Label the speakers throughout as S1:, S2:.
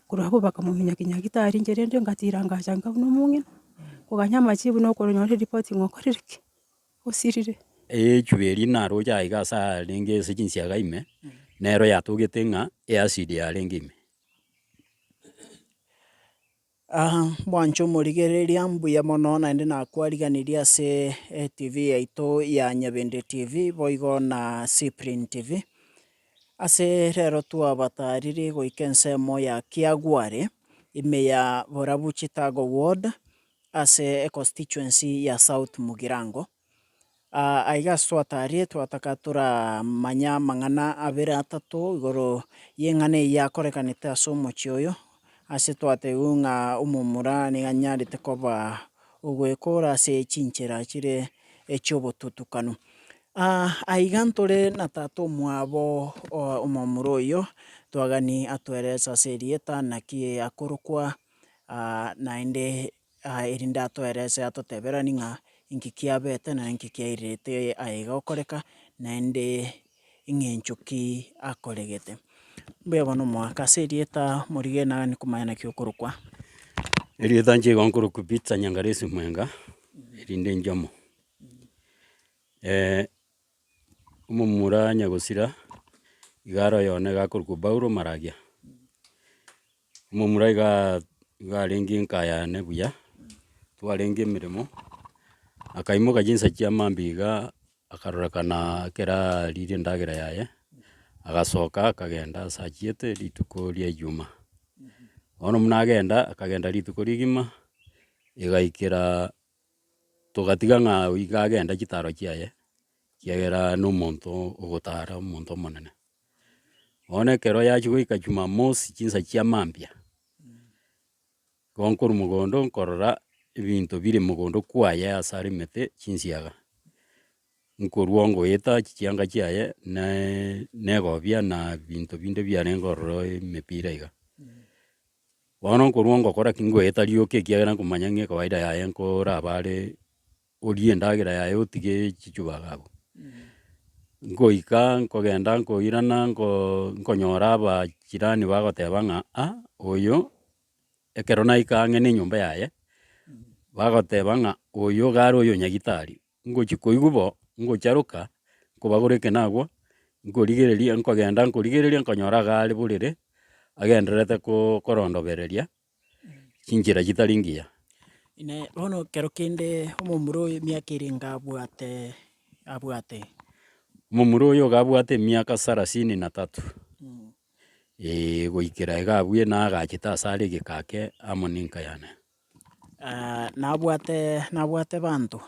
S1: Korwa abwo bakamominyakinyaki tari inche rende ngatiira ngacha inga buna omong'ina, koganya amachie buna okonyora eripoti ng'a okorire ki? osirire. Eechwi eria
S2: naroche aye iga ase arenge ase chinsiaga ime, nero yatogete ng'a eacid yarenge ime.
S3: mwanche omorigereria mbuya mono naende nakwariganirie ase etv yaito ya Nyabende TV boigo na Cyprian TV, Ase rero twabataariri goika ensemo ya Kiagware, ime ya borabu Chitago Ward, ase econstituency ya South Mugirango. Ah, aiga ase twataarire twataka toramanye amang'ana abere atato igoro y'eng'ana eyio yakorekanete ase omochie oyo, Ase twatebiwe ng'a omomura nigo anyarete koba ogwekora ase chinchera chire echi'obotutukanu. Aiga ntore na tata omwabo omomura oyio, twagani atoerese ase erieta naki akorokwa, naende erinde atoerese atoteberanie ng'a inki kiabete na inki kiairerete aye iga gokoreka, naende eng'encho ki akoregete. Mbuya bono omogaka ase erieta morigere naro nere komanya naki okorokwa. Erieta
S2: nche igo nkorokwa Peter Nyangalesi Mwenga, erinde njomo. Omomura nyagosira, igare oyone iga akorokwa Paulo Maragia, omomura igaa iga arenge enka yane buya, twarenge emeremo, akaimoka chinsa chia maambia igaa, akarorekana ekero aririe endagera yaye, agasoka akagenda ase achiete rituko ria ejuma. Bono buna agenda, akagenda rituko rigima, igaikera. togatiga ng'a oiga agende chitaro chiaye, ekiagera nomonto ogotara omonto omonene. Bono ekero yachia goika jumamosi chinsa chia mambia, igo nkorwa mogondo nkorora ebinto bire mogondo kwaye ase arimete chinsiaga, nkorwa ongoeta chianga chiaye naaa negobia na binto binde biarenge ororo emepira iga. Bono nkorwa ngokora ki? Ngoeta rioka ekiagera nkomanya ng'a ekawaida yaye nkorabare orie endagera yaye otige chichubaga abwo. Nkoika nkogenda nkoirana nkoo nkonyora abachirani bagoteba ng'a aa oyo ekero naika ang'e nenyomba yaye, bagoteba ng'a oyo iga are oyonyagitari. Ngochia koigwa bo, ngocharoka nkobagora ekenagwa, nkorigereria nkogenda nkorigereria nkonyora iga are borere, agendererete ko- korondobereria chinchera chitari ngiya. Ime bono
S3: ekero kende omomura oyo emiaka ere iga abwate abwate?
S2: Momura oyo iga abwate emiaka sarasini na tatu, eeh goikera iga abwo naye agachete asare egeka ake amo ninka yane.
S3: nabwate abanto.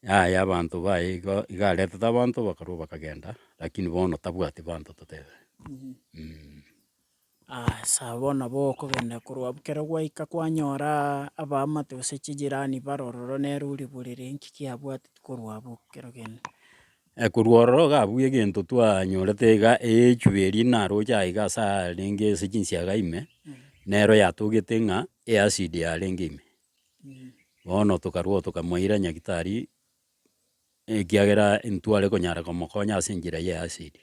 S3: Yaya
S2: abanto baye igo, iga aretete abanto bakarwa bakagenda, rakini bono tabwati abanto totebe mm.
S3: Aya sawa bono nabo okogenda korwa abwo ekero gwaika kwanyoraa abaamate gose chijirani bare ororo nere oribore ree, nki kiabwateti korwa abwo ekero ogenderee. Ekorwa
S2: ororo iga abwo egento twanyorete iga eechwe eria naroche aiga ase arenge ase chinsiaga ime, nero yatogete ng'a eacid yarenge ime. Bono tokarwao tokamoira nyagitari, ekiagera ntware konyara komokonya ase enchera ya eacid.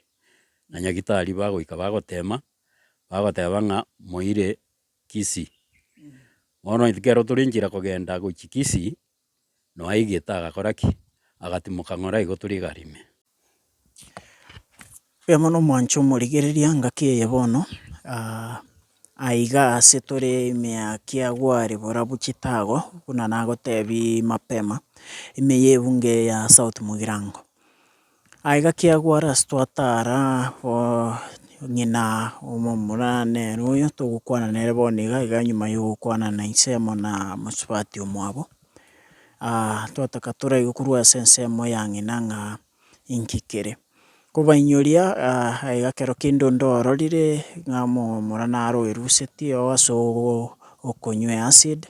S2: Na nyagitari bagoika bagotema, bagoteba ng'a moire Kisii. Bono ekero tore enchera kogenda gochia Kisii. Noaigete agakora ki? Agatimoka ng'ora igotu rigare ime.
S3: Oyo mono omwanche omorigereria ngaki eye bono, aiga ase tore emiaki agware borabu chitago, buna nagotebia mapema, ime yebungo eye ya south mogirango. Aye gakiagwa ras twatara bo ng'ina omomura nere oyo togokwana nere bono iga iga nyuma ya ogokwana na ensemo na mosubati omwabo, twataka toraigwe korwa ase ensemo ya ng'ina ng'a inki kere. Kobainyoria aye ekero kende onde ororire ng'a omomura naro oeruseti oo ase ogo okonywea acid,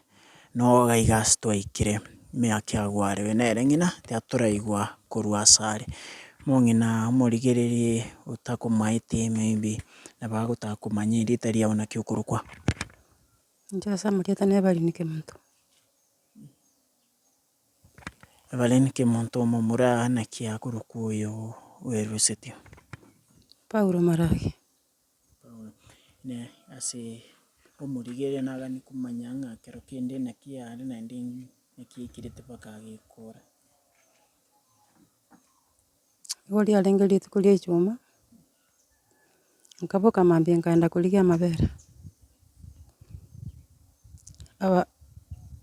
S3: Noo gaiga ase twaikire, emiaka eagwarewe nere ng'ina tiatoraigwa korwa asare. Mong'ina omorigererie otakomaete maybe nabo agotaka komanya erieta riao naki okorokwa.
S1: Inche ase amarieta na Evelyn Kimonto.
S3: Evelyn Kimonto omomura naki akorokwa oyo oeruseti. Paulo
S1: Marage. Na
S3: ase omorigereria nagani komanya ng'a ekero kende naki are naende naki aikirete mpaka agekora.
S1: Nigo riarenge rituko ria echuma, nkaboka mambia nkaenda korigia amabere, aba-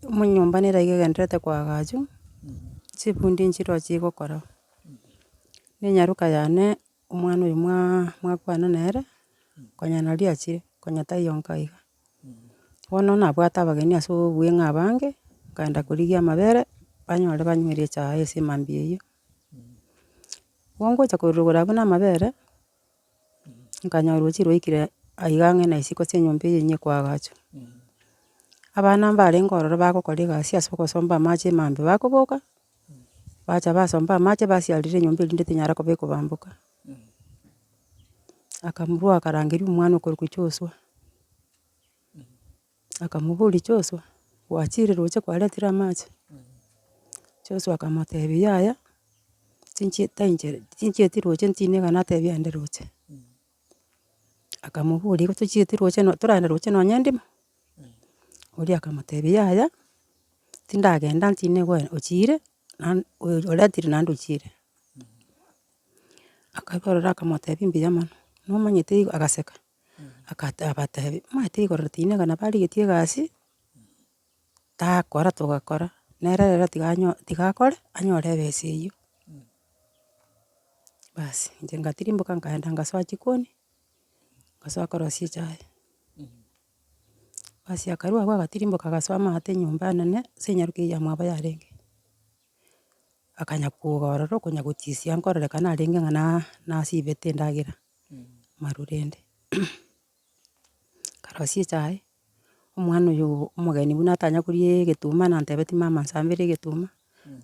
S1: omonyomba nere aiga egenderete koagachu, chifundi nchiroche chigokora, na enyaroka yane. omwana oyo mwa- mwakwana nere, konya nari achire, konya taiyo nka iga. Bono nabwate abageni ase obweng'a abange, nkaenda korigia amabere, banyore banywere echae ase emambia eyio. Igo ngocha korogora abwo na amabere, nkanyora oruchi rwaikire aiga ang'e na isiko ase enyomba eyio enyia koagachwa. Abana mbarenge ororo bagokora egasi ase ogosomba amache emambe bakoboka, bacha basomba amache basiarera enyomba eria rinde tinyara koba ekobamboka. Akamorua akarangeria omwana okorokwa Joshua, akamoboria Joshua, gwachire roche kwaretire amache? Joshua akamotebia yaya, tinchi- tainche- tinchieti roche ntine iga natebia ande roche. Akamoboria igo tochieti roche no- toragenda roche nonya ndimo? Oria akamotebia yaya, tindagenda ntindi goenda ochire, naende oyo oretire naende ochire. Akabarora akamotebia mbuya mono, nomanyete igo, agaseka, akata abatebia, omanyete igoro tinega nabarigetie egasi, Takora togakora, nere rero tiga anyo tiga akore, anyore ebesa eyio. Basi inche ngatirimboka nkaenda ngasoa chikoni, ngasoa korosia echae, basi akarua agwo agatirimboka agasoa amaate nyomba enene, ase enyaruka eyio amwabo yarenge. Akanya kowoga ororo okonya gotisia nkorora kana arenge ng'a na- nasibete endagera, marurende. Nkarosie echae, omwana oyo omogeni buna atanya koria egetuma nantebetie mama nsambera egetuma,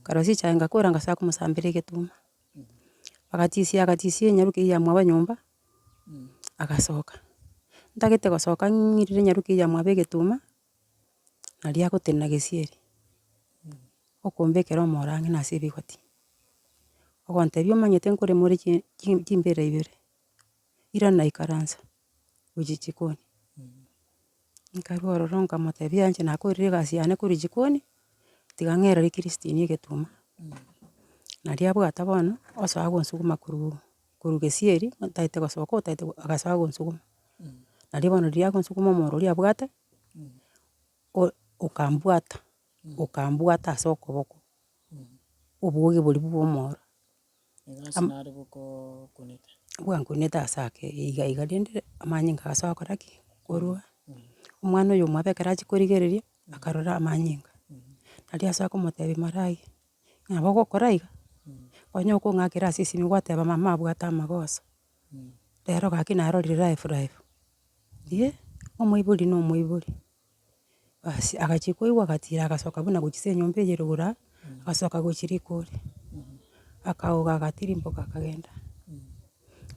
S1: nkarosia echae ngakora ngachaka komosambera egetuma. Agachisia agachisia enyaruke eyio amwabo nyomba, agasoka, ntagete gosoka ng'irire enyaruke eyio amwabo egetuma, naria agotenena gesieri, okombekera omoro ang'e nase ebigoti, ogontebia omanyete nkoremore chi- chi- chimbera ibere. ira naikaransa, gochia jikoni, nkarwa ororo nkamotebia inche nakoorire egasi yane korwa jikoni, tiga ng'erere ri christine egetuma, naria abwate bono, osoa gonsuguma korwa korwa gesieri, ntaete gosoka otaete go agasoa gonsuguma, nario bono riria agonsuguma omoro oria abwate, o- okambwata, okambwata ase okoboko, oboge boria bwa omoro. Am-
S3: nare gokokunete. Bwankunete
S1: ase ake iga iga rende amanyinga agasoa gokora ki? Korwa. Omwana oyo omwabo ekero achia korigereria, akarora amanyinga, naria asoa komotebia marayi, nabo ogokora iga, onye okong'akera ase esimi gwateba mama abwate amagoso, rero gaki narorire life life, eeh, omoibori na omoibori. Basi agachia koigwa agatira agasoka buna gochia ase enyomba eye rogoro aa, agasoka gochia riko ore, akagoka agatirimboka akagenda.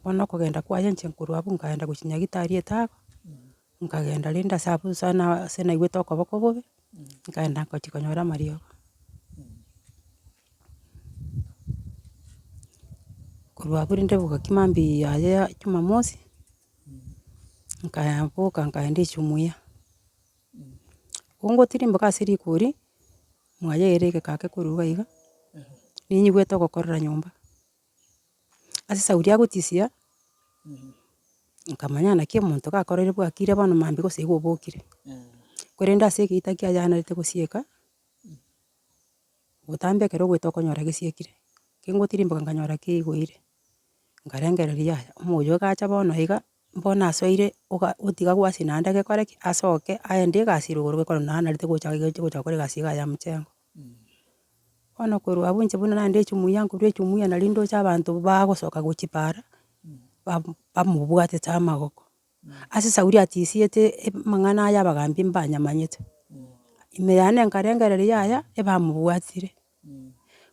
S1: Bono okogenda kwaye inche nkorwa abwo nkagenda gochia Nyagitari etago, nkagenda rende ase abwo ase na- ase naigwete okoboko bobe, nkagenda ngochia konyora amariogo. korwa abwo rende bogaki maambia yaye ya jumamosi, nkaya boka nkaenda echumuya. Kongotirimboka ase rigori, mwaya ere egeka ake korwa iga iga, ninyigwete ogokorera nyomba. Ase esauri ya gotisia, nkamanya naki omonto gakorire bwakire bono maambia gose iga obokire. Korende ase egeita kiayanerete gosieka. Botambe ekero ogoeta okonyora gesiekire, kengotirimboka nkanyora kegoire, nkarengereria yaya, omoyo oyio igacha bono iga, bono asoire oga- otiga gwasi naende gekore ki? Asoke aende egasi ere igoro gekogera naende narete gocha iga ache gocha gokora egasi iga ya mochengo. Bono korwa abwo inche buna naende ejumuia nkorwa ejumuia naria ndoche abanto bagosoka gochia paara, ba- bamobwatete amagoko. Ase Sauli atisiete amang'ana aya abagaambi mbanyamanyete, ime yane nkarengereria yaya ebamobwatire.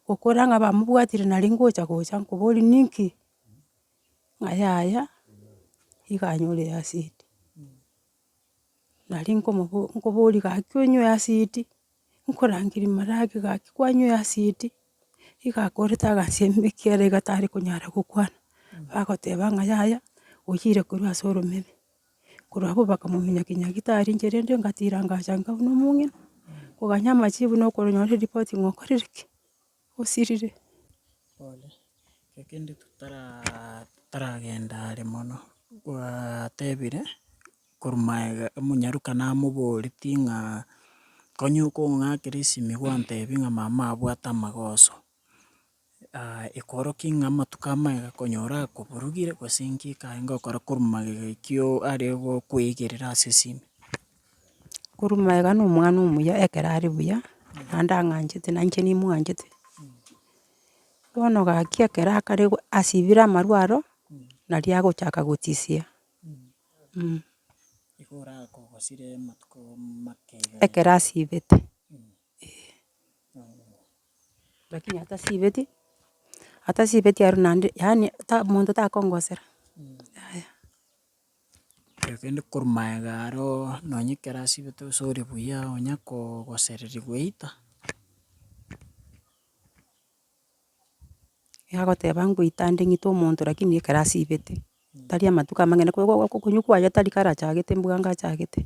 S1: Gokora ng'a bamobwatire nari ngocha gocha nkoborie ninki? Ng'a yaya iga anyore eacidi. Nari nkomobo nkoborie gaki onywe eacidi. nkorangeri marage gaki kwanywire acid, iga akorete agasemi ekiagera iga tare konyara gokwana, bagoteba ng'a yaya oyire korwa ase oromeme, korwa abwo bakamominyokia nyagitari inche rende ngatira ngacha nkabu na omong'ina, koganya amachibu na okoronyora eripoti ng'a okorire ki. osirire. Pole,
S3: ekio kende totaraa totaragenda are mono, gwatebire korwa magega omonyaruka namoboretie ng'a konya okong'akera esimi gwantebia ng'a mama abwate amagoso, ekorokia ng'a amatuko amagega konya orakoborugire gose inki kae ngokora korwa magega ekio are gokwegerera ase esimi.
S1: Korwa magega na omwana omuya ekero are buya, naende ang'anchete na inche nimwanchete, bono gaki ekero akare go asibire amarwa aro, nari agochaka gotisia, mh.
S3: Ekero asibete,
S1: lakini atasibeti, atasibeti aria naende yaani ta omonto takongosera, yaya.
S3: Kende korwa magega aroo nonye ekero ase obote gose ore buya onya kogosererigwa eita.
S1: Egagoteba ngoita ande ng'ite omonto lakini ekero asibete, tari amatuko amang'ana ko- ko- ko- konywa kwaye tari kare achagete mbwe anga achagete.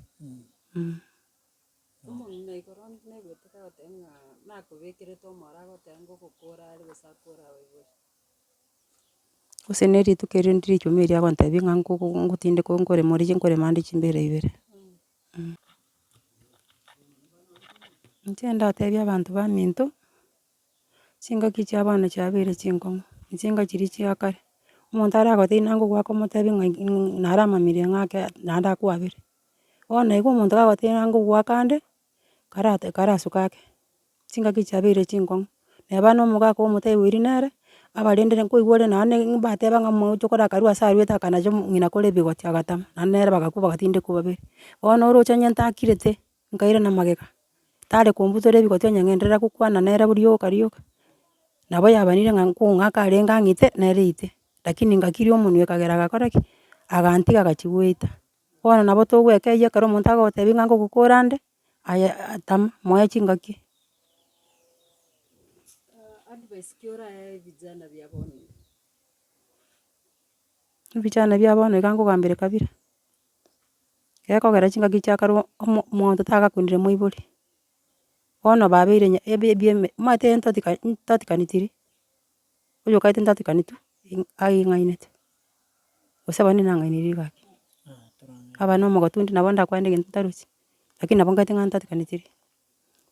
S1: Gose ne rituko erio ndire echumi eria agontebia ng'a nko- ko- ngotindeka nkorema ore nkorema ande chimbere ibere, eh. Inche ndatebie abanto baminto, chingaki chia abana chiabeire chinkong'u, chinga chiria chia kare, omonto aragotebi naye ngokwaka omotebie ng'a in- in- nare amamirie ng'ake naende akwabere, bono igo omonto kagotebi naye ngokwaka ande. kara karasuka ake, chingaki chiabeire ching'kong'u, na abana omogaka omotaai oiri nere, abarendire nkoigwa ore nonya ne mbateba ng'a omogocho kore akarue ase aruete akanacha omo ng'ina kore ebigoti agatama, naende nere bagakwa bagati tindi kobaberi. Bono oroche onye ntakirete, nkaire na magega, tare kombutora ebigoti onye ng'enderera gokwana nere bori yoka rioka, nabo yabanire ng'a nko ng'aka arenge ang'ite, nere ite, lakini ngakiria omonwe ekagera agakora ki? agantiga agachia goita. Bono nabo togweka eyio ekero omonto agogotebi ng'a ngogokora nde, aye tama moe chingaki. Ebijana bia bono iga ngogambera ekabira, gekogera chingaki chia kare omo- monto tagakundire moibori, bono babeire nya- ebi- ebieme omanyete ntoti- ntotikanetiri. oyokagete ntatukaneti aing'ainete, gose abande nang'aineiri gaki, abana omogote onde nabo ndakwane egento ntarosie, lakini nabo ngete ng'a ntatukanetirie.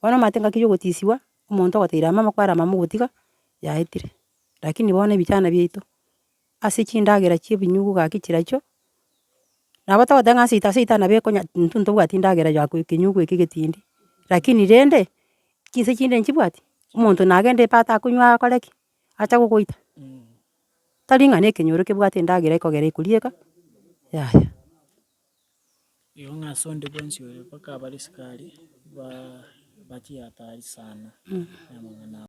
S1: Bono amate ngaki ya ogotisiwa, omonto ogoteire amama kware amama ogotiga, yaetire, lakini bono ebijana biaito. ase chindagera chi'ebinyugu gaki chiracho, nabo togoteba ng'a ase seita nabo ekonya intwe ntobwati endagera ya ekenyugu eke egetindi, lakini rende, chinsa chinde nchibwati, omonto nagende epa atakonywa akore ki? Acha gogoita. Tari ng'a na ekenyoro kebwate endagera ekogera ekorieka, yaya.